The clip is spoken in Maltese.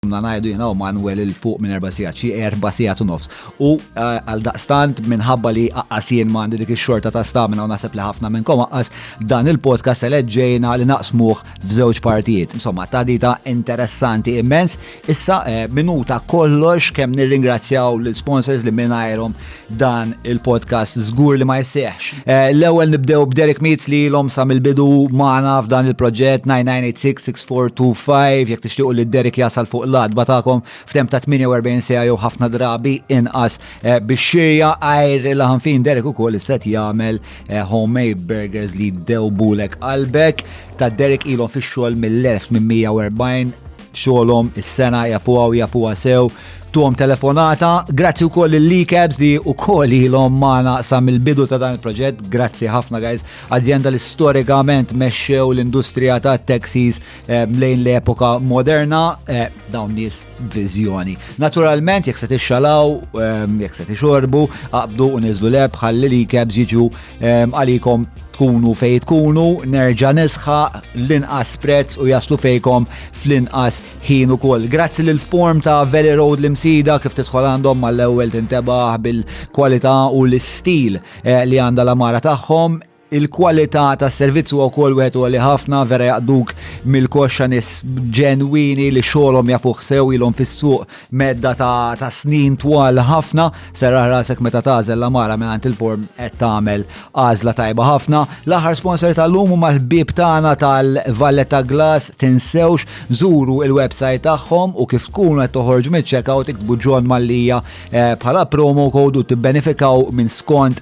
Domna ngħidu jiena u Manwel il fuq minn erba' sigħat, xi erba' sigħat u nofs. U għal daqstant minħabba li aqqas jien ma għandi dik ix-xorta ta' stamina u naħseb li ħafna minnkom aqqas dan il-podcast eleġġejna li naqsmuh f'żewġ partijiet. Insomma, ta' dita interessanti immens. Issa minuta kollox kemm nirringrazzjaw l-sponsors li mingħajrhom dan il-podcast żgur li ma jseħx. Eh, l-ewwel nibdew b'Derek Meets li l-om sa mill-bidu magħna f'dan il-proġett 9986-6425 jekk tixtiequ li Derek jasal fuq l-adba tagħkom f'tem ta' 48 sija jew ħafna drabi inqas eh, biex xirja għajr il-ħanfin Derek ukoll isset jagħmel eh, homemade burgers li dewbulek qalbek ta' Derek ilhom fix-xogħol mill-1840 xogħolhom is-sena jafuha u jafuha sew tuhom telefonata. Grazzi wkoll lil Likebs li wkoll ilhom magħna sa mill-bidu ta' dan il-proġett. Grazzi ħafna guys. Azienda li storikament mexxew l-industrija ta' taxis eh, lejn l-epoka moderna eh, dawn nies viżjoni. Naturalment jekk se tixxalaw, eh, jekk se tixorbu, aqbdu u niżlu leb ħalli Likebs jiġu għalikom tkunu fej tkunu, nerġa nisħa l-inqas prezz u jaslu fejkom fl-inqas ħin ukoll. Grazzi l form ta' Valley Road l-imsida kif tidħol għandhom mal-ewwel tintebaħ bil-kwalità u l-istil eh, li għandha l-amara tagħhom il-kwalità tas servizzu u kol wieħed u li ħafna vera jaqduk mill-koxxa nis ġenwini li xogħolhom jafuh sew ilhom fis-suq medda ta' snin twal ħafna, serraħ rasek meta tażel la mara minn għand il-form qed tagħmel għażla tajba ħafna. L-aħħar sponsor tal-lum huma l-ħbieb tagħna tal-Valletta Glass tinsewx żuru il-website tagħhom u kif tkunu qed toħorġu mill-checkout iktbu John Mallija eh, bħala promo code u tibbenefikaw minn skont